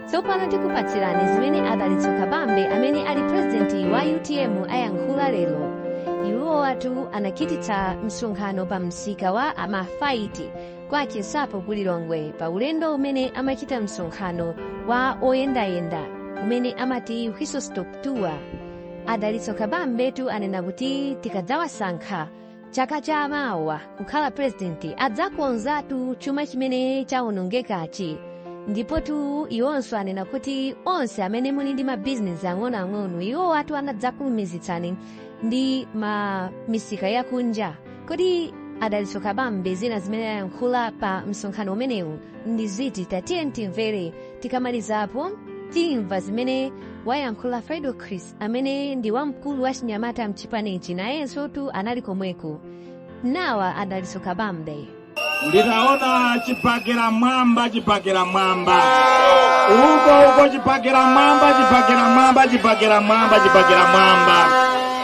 tsopano tikupatsirani zimene adalitso kabambe amene ali pulezidenti wa utm ayankhula lero iwowatu anachititsa msonkhano pa msika wa amafaiti kwa chinsapo ku lilongwe pa ulendo umene amachita msonkhano wa oyendayenda umene amati whistle stop tour adalitso kabambetu anena kuti tikadzawasankha chaka cha mawa kukhala purezidenti adzakonzatu chuma chimene chawonongekachi ndipotu iwonso anena kuti onse amene muli ndi mabizinesi ang'onoang'ono iwowatu adzakulumikizitsani ndi ma misika yakunja kodi adalitso kabambe zina zimene ayankhula pa msonkhano umenewu ndi ziti tatiye timvere tikamalizapo timva zimene wayankhula fredokiss amene ndi wamkulu wa chinyamata mchipanichi nayensotu anali komweko nawa adalitso kabambe nditaona chibakera m'mwamba chibakera m'mwamba uko uko chibakera m'mwamba chibakera m'mwamba chibakera m'mwamba chibakera m'mwamba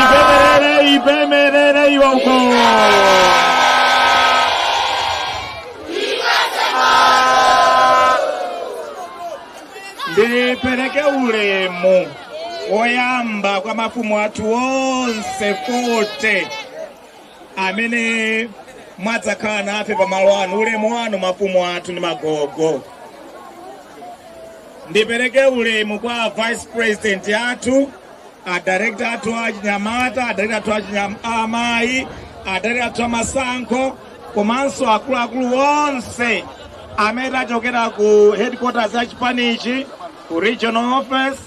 Ipemerere, ipemerere iwa uko. Ndipereke ulemu woyamba kwa mafumu athu onse 40 amene mwadzakhala nafe pa malo ano ulemu wanu mafumu athu ndi magogo ndipereke ulemu kwa vice president athu adirekta athu achinyamata adirekta athu a amayi adirekta athu amasankho komanso akuluakulu onse amene tachokera ku headquarters ya chipanichi ku regional office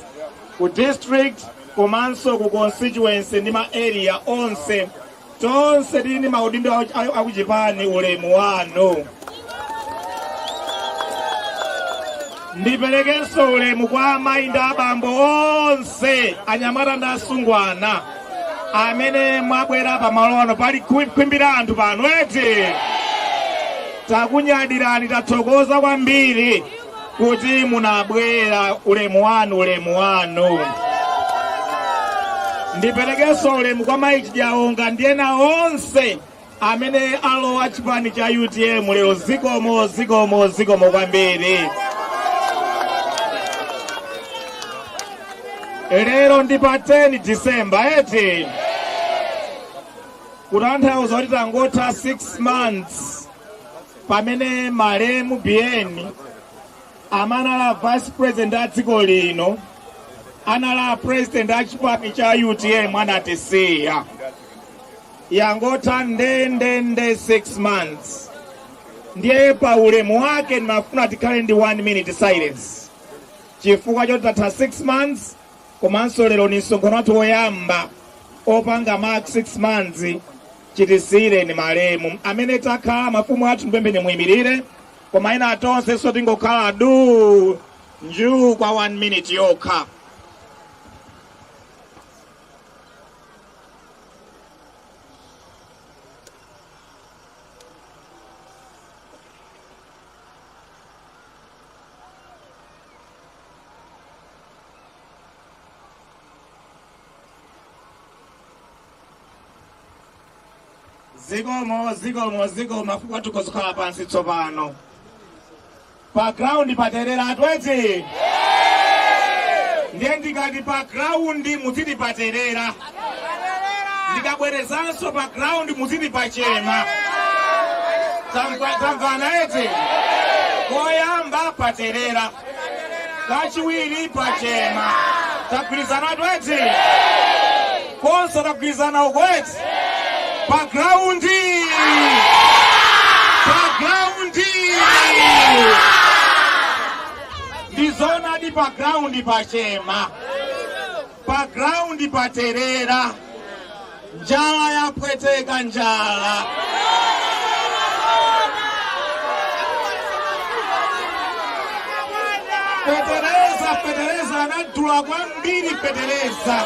ku district komanso ku constituency ndi ma area onse tonse tili ndi maudindo a- a- akuchipani ulemu wanu ndiperekenso ulemu kwa amayi ndi abambo onse anyamata ndi asungwana amene mwabwera pamalo ano pali khwimbi la anthu pano eti takunyadirani tathokoza kwambiri kuti munabwera ulemu wanu ulemu wanu ndiperekenso ulemu kwa mayi Chijaonga ndi ena onse amene alowa chipani cha utm lero zikomo zikomo zikomo kwambiri lero ndi pa 10 disemba eti kutanthauza kuti tangotha 6 months pamene malemu biyeni amene anali vice president a dziko lino anali president a chipani cha utm anatisiya yangotha ndendende 6 months ndiye pa ulemu wake ndinafuna tikhale ndi 1 minute silence chifukwa choti tatha 6 months komanso lero ndi msonkhano wathu woyamba opanga mark 6 months chitisiyireni malemu amene takhala mafumu athu ndipempheni muyimirire koma ena tonse so tingokhala du njuu kwa 1 minute yokha zikomo zikomo zikomo mafumu athu kozikhala pansi tsopano pa ground paterera eti ndiye ndikati pa ground muziti paterera ndikabwerezanso pa ground muziti pachema tamvana eti koyamba paterera kachiwiri pachema tagwirizanatu eti konse tagwirizana uko eti pa ground pa ground ndizonadi pa ground pachema pa ground paterera njala yapweteka njala fetereza fetereza anadula kwambiri fetereza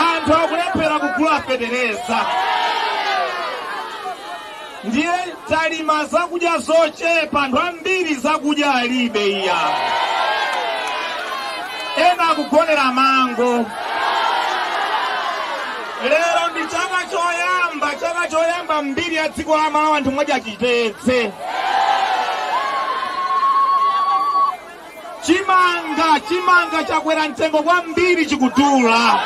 anthu akulephera kugula fetereza ndiye talima zakudya zochepa anthu ambiri zakudya alibe iya ena akugonera mango lero ndi chaka choyamba chaka choyamba m'mbiri ya dziko la malawi anthu mwadya chitedze Chimanga, chimanga chakwera mtengo kwambiri chikudula.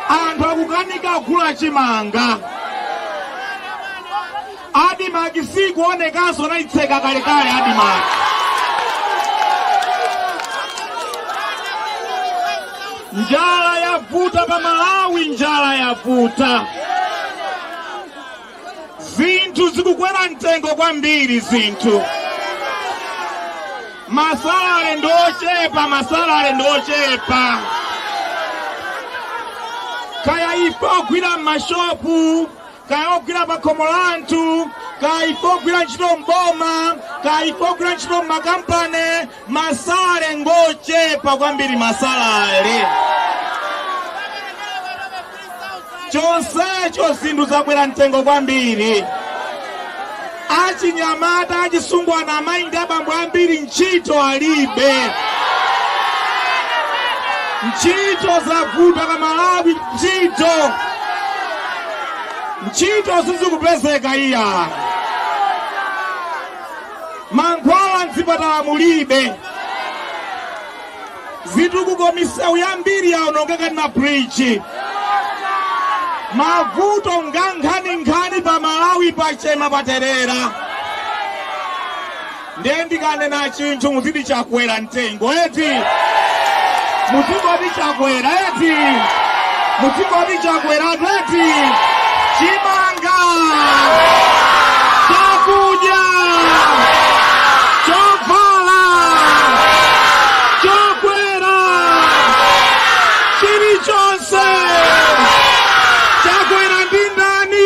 Anthu akukanika kugula chimanga. Adimaki sikuonekanso anayitseka kalekale Adimaki. Njala yavuta pa Malawi, njala yavuta. zinthu zikukwera mtengo kwambiri zinthu masalale ndi ochepa masalale ndi ochepa kaya ife ogwira m'mashopu kaya ogwira pakhomo la anthu kaya ife ogwira ntchito m'boma kaya ife ogwira ntchito m'makampani Masalale ngochepa kwambiri masalale. Chonsecho zinthu zakwera mtengo kwambiri. Achinyamata achisungwana amayi ndi abambo ambiri ntchito alibe. Ntchito zavuta pa Malawi ntchito. Ntchito sizikupezeka iya. Mankhwala m'zipatala mulibe. Zitukuko misewu yambiri yaonongeka na bridge. Mavuto ngankhaninkhani pa Malawi pachema paterera. Ndiye ndikanena chinthu muziti chakwera mtengo eti muzingoti chakwera eti muzingoti chakwera eti chimanga chakudya chovala chokwera chilichonse chakwera ndi ndani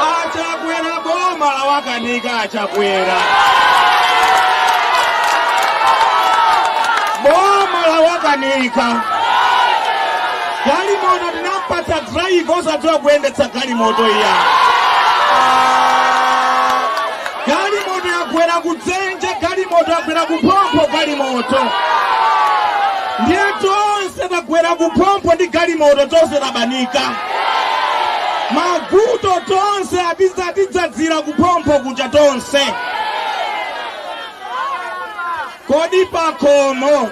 A Chakwera boma lawakanika a Chakwera boma lawakanika galimoto tinampatsa driver osadziwa kuyendetsa galimoto iya Galimoto yagwera kudzenje, galimoto yagwera kuphompho, galimoto ndiye tonse tagwera kuphompho ndi galimoto, tonse tabanika mavuto, tonse atidzadzira kuphompho kuja tonse. Kodi pakhomo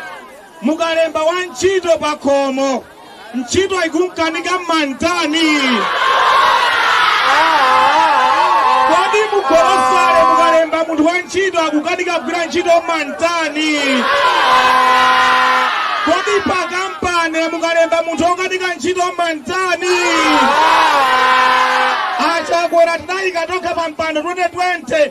mukalemba wantchito pakhomo ntchito ikumkanika mmamtani kodi mugolosale mukalemba munthu wa ntchito akukanika kugwira ntchito mmamtani kodi pakampani mukalemba munthu okanika ntchito mmamtani a Chakwera tinaika tokha pa mpando 2020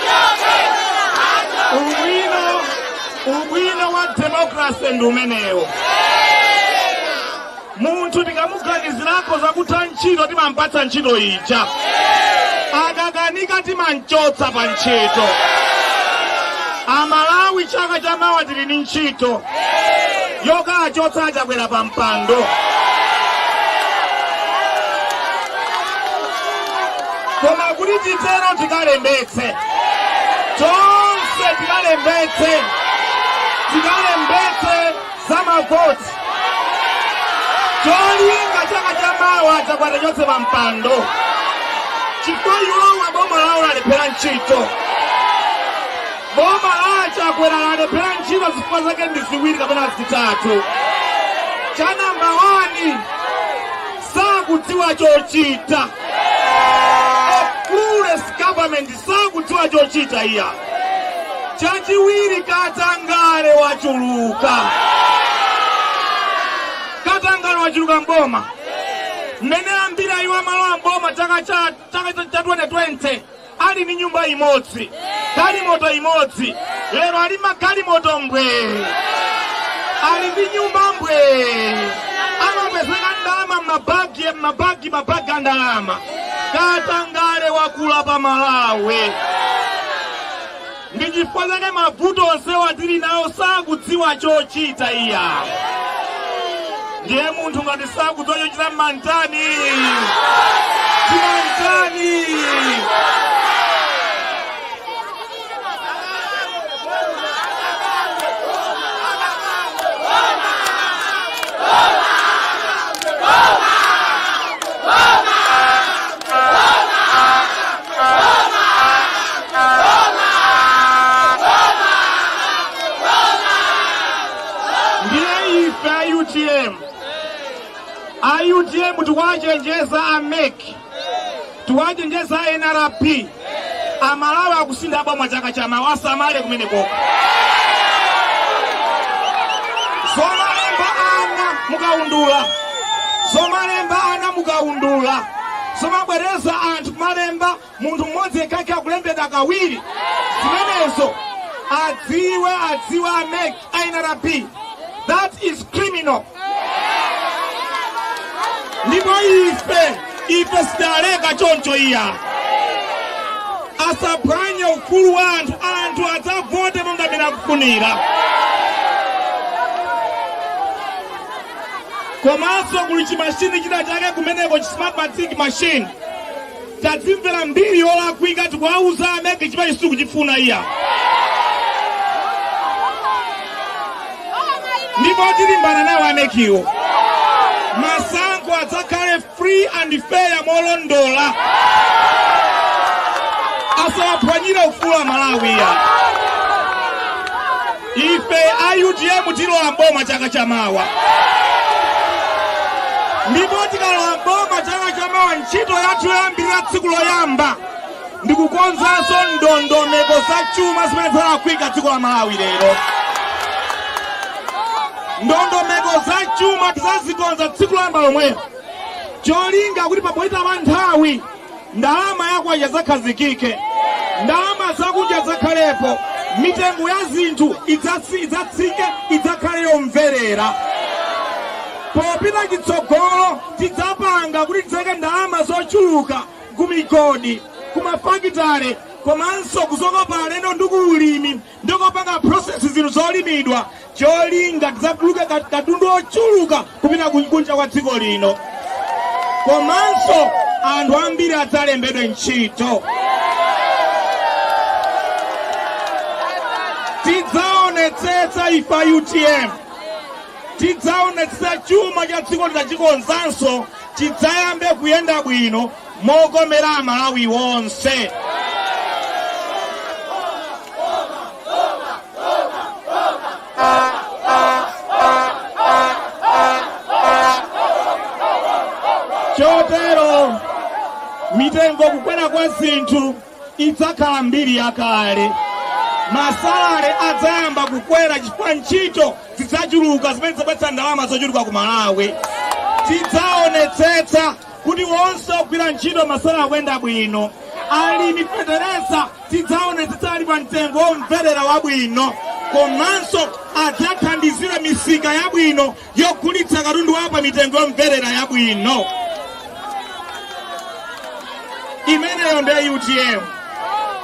ubwino wa demokrase ndi umenewo munthu tikamuganizirako zakutha ntchito timampatsa ntchito ija akakanika timamchotsa pa ntchito amalawi chaka cha mawa tili ndi ntchito yokachotsa achakwera pa mpando koma kuti titero tikalembetse tonse tikalembetse tikalembetse za mavoti cholinga chaka cha mawa chakwera achoke pa mpando chifukwa iwowa boma lawo lalephera ntchito boma la chakwera lalephera ntchito zifukwa zake ndi ziwiri kapena zitatu cha namba wani sakudziwa chochita clueless government sakudziwa chochita iya chachiwiri katangale wachuluka katangale wachuluka mboma mmene amabwera iwowa malo a mboma chaka cha chaka cha 2020 Ali ndi nyumba imodzi, galimoto imodzi, lero ali ndi magalimoto mbwee, ali ndi nyumba mbwee, amapezeka ndi ndalama m'mabagi m'mabagi mabagi a ndalama. Katangale wakula pa Malawi. Ndi chifukwa chake mavuto onsewa tili nawo sakudziwa chochita iya. Ndiye munthu ngati sakudziwa chochita mmantani. Timantani. ndiye ife a utm a utm tiwachenjeza a mec tiwachenjeza a nrb amalawi akusintha boma chaka chamawa asamale kumenekoko zomalemba ana mukaundula zomalemba ana mukaundula zomabwereza anthu kumalemba munthu mmodzi yekha akulembedwa kawiri zimenezo adziwe adziwe a mec a nrb that is criminal ndipo ife ife sitileka choncho iya asaphwanye ufulu wa anthu anthu adzavote monga mmene akufunira komanso kuli chimashini china chake kumeneko chismart matic machine tadzimvera mbiri yolakwika tikuwauza a MEC chimene sitikuchifuna iya ndipo tilimbana nawo a MEC iwo masankho adzakhale free and fair molondola asawaphwanyire ufulu Amalawi iya Ife a utm tilowa m'boma chaka chamawa, ndipo tikalowa m'boma chaka chamawa, ntchito yathu yoyambirira tsiku loyamba ndi kukonzanso ndondomeko za chuma zimene zalakwika dziko la Malawi lero. Ndondomeko za chuma tizazikonza tsiku loyamba lomwelo, cholinga kuti popita nthawi ndalama ya kwacha idzakhazikike ndalama zakunja idzakhalepo mitengo ya zinthu idzatsi- idzatsike idzakhale yomverera popita chitsogolo tidzapanga kuti tidzaike ndalama zochuluka ku migodi ku mafakitale komanso kuzokopa alendo ndi ku ulimi ndi kupanga process zinthu zolimidwa cholinga tidzatuluke kat- katundu ochuluka kupita ku- kunja kwa dziko lino komanso anthu ambiri adzalembedwe ntchito tidzaonetsetsa ife a utm tidzaonetsetsa chuma cha dziko lino tachikonzanso chidzayambe kuyenda bwino mokomera Amalawi onse. Chotero mitengo kukwera kwa zinthu idzakhala mbiri yakale. Masalale adzayamba kukwera chifukwa ntchito zidzachuluka zimene zidzabweretsa ndalama zochuluka ku Malawi. Tidzaonetsetsa kuti onse ogwira ntchito masalale akuyenda bwino alimi fetereza tidzaonetsetsa ali pa mtengo womverera wabwino komanso adzathandizira misika yabwino yogulitsa katundu wawo pa mitengo yomverera yabwino imeneyo ndiye utm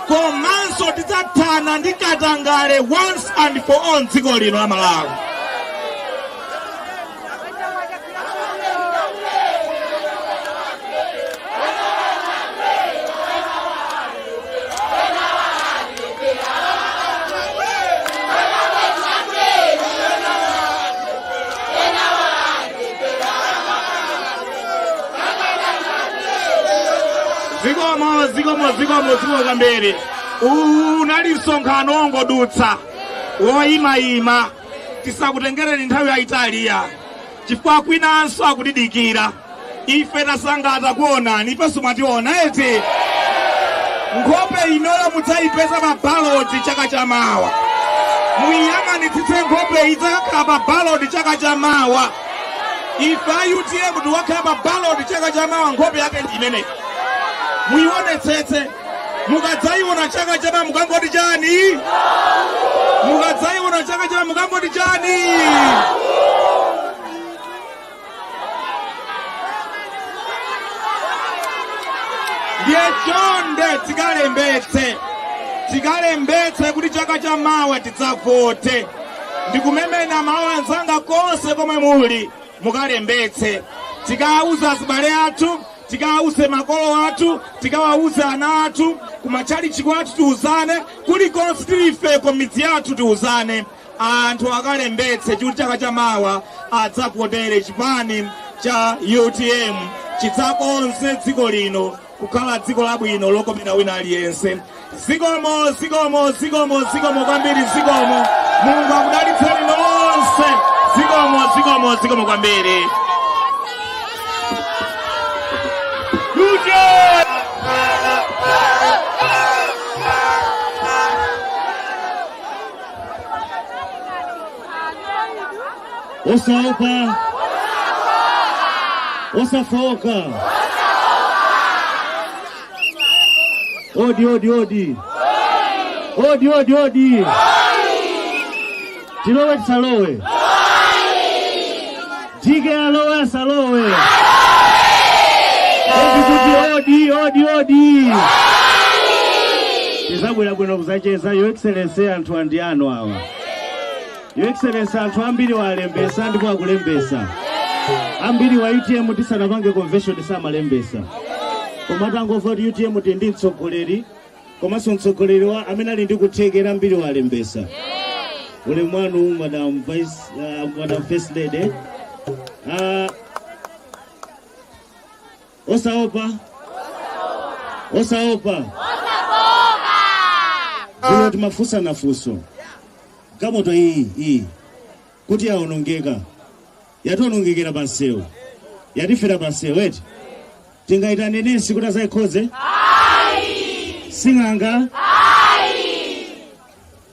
komanso tidzathana ndi katangale once and for all mdziko lino la malawi zikomo zikomo zikomo zikomo kwambiri uwu unali msonkhano wongodutsa woyimayima tisakutengereni nthawi yayitali iyayi chifukwa kwinanso akutidikira ife tasangalala kuonani ifenso mwationa eti nkhope inoyo mudzayipeza pa baloti chaka cha mawa muyiyang'anitsitse nkhope iyi idzakhala pa baloti chaka cha mawa ife a utm tikakhala pa baloti chaka cha mawa nkhope yake ndi imeneyi muyionetsetse mukadzayiona chaka chamawa mukangoti chani mukadzayiona chaka chamawa mukangoti chani ndiye chonde tikalembetse tikalembetse kuti chaka cha mawa tidzavote ndikumema amayi anzanga konse komwe muli mukalembetse tikawauze azibale athu tikawauze makolo athu tikawauze ana athu kumatchalichi kwathu tiuzane kulikonse tili ifeko mmidzi yathu tiuzane anthu akalembetse kuti chaka chamawa adzavotere chipani cha utm chidzakonze dziko lino kukhala dziko labwino lokomera wina aliyense Zikomo, zikomo, zikomo, zikomo kwambiri, zikomo. Mulungu akudalitseni nonse. Zikomo, zikomo, zikomo kwambiri. Uje! Osaopa, osafoka. Odi, odi, odi. Odi, odi, odi. Tilowe tisalowe. Jike alowe asalowe. Odi kuti odi, odi, odi. Tizabwera bwino kuzacheza Your Excellency anthu andi anu awa. Your Excellency, anthu ambiri alembesa ndipo akulembesa ambiri a UTM tisanapange convention samalembesa koma atangomva kuti UTM tili ndi mtsogoleri komanso mtsogoleri wathu amene ali ndi kuthekera ambiri alembesa ulemu wanu madam vice uh, madam first lady uh, osaopa osaopa lero timafunsana funso galimoto iyi iyi kuti yaonongeka yationongekera pa msewu yatifera pa msewu eti tingayitane nesi kuti azayikhonze sing'anga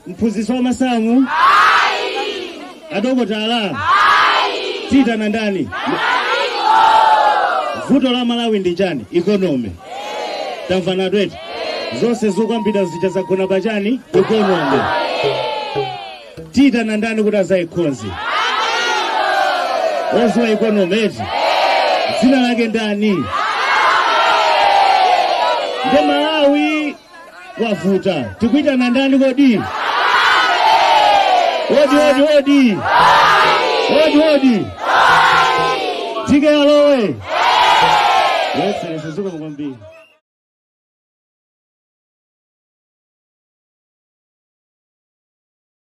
Mphunzitsi wa masamu? Ayi. Adokotala? Ayi. Tiyitana ndani? Vuto la Malawi ndi chani? Economy. Tamvanatu eti. Zonse zokambidwa zija zagona pa chani? Economy. Tiyitana ndani kuti azayikhonze? Oziwa economy eti? Dzina lake ndani? Ndi Malawi wavuta tikuitana ndani kodi odi odi odi odi odi tiyeni alowe yeserese zikomo kwambiri